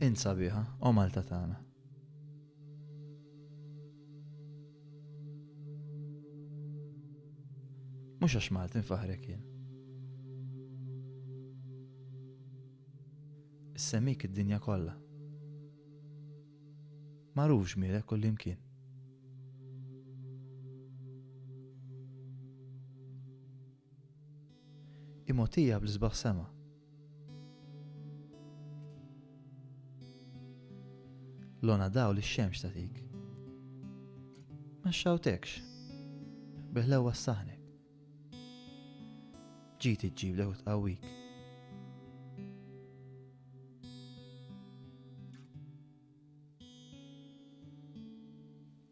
Int sabiħa, o Malta tagħna. Mhux għax Malti nfaħrek jien. Issemmik id-dinja kollha. Magħruf ġmielek kull imkien. Hi mogħtija bl-isbaħ sema. Lona dawl ix-xemx tagħtik. Ma xxawtekx. Bi ħlewwa ssaħnek. Ġid iġġiblek u tqawwik.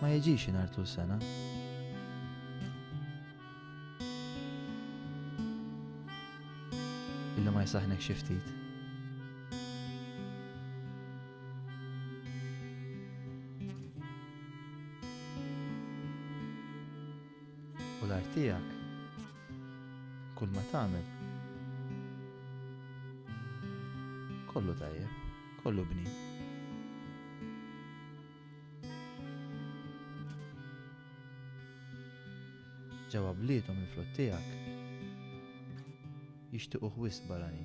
Ma jiġix inhar tul sena. Illi ma jsaħnek xi ftit. U l-art tiegħek Kull ma tagħmel. Kollu tajjeb, kollu bni. Ġewwa bliethom il-frott tiegħek jixtiequ wisq barani.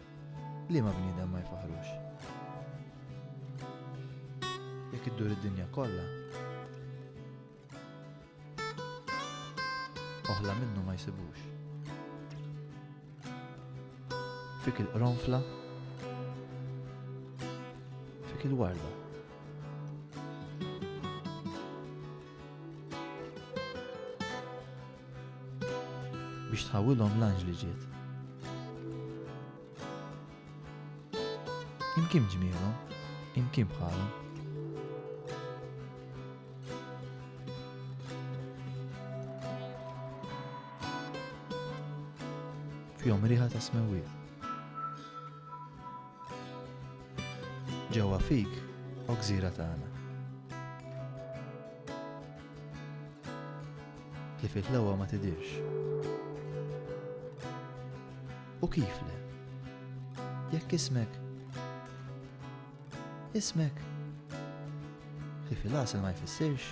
Liema bniedem ma jfaħrux? Jekk iddur id-dinja kollha, oħla minnu ma jsibux. Fik il-qronfla, fik il-warda. biex tħawilhom l-anġ li ġiet. Imkien ġmielhom, imkien bħalhom. Fjom riħa ta' smewil. Ġewwa fik, oksira tagħna. Li fih l-ewwa ma tidirx. U kif le? Jekk ismek. Ismek. Li fil-asel ma jfissirx.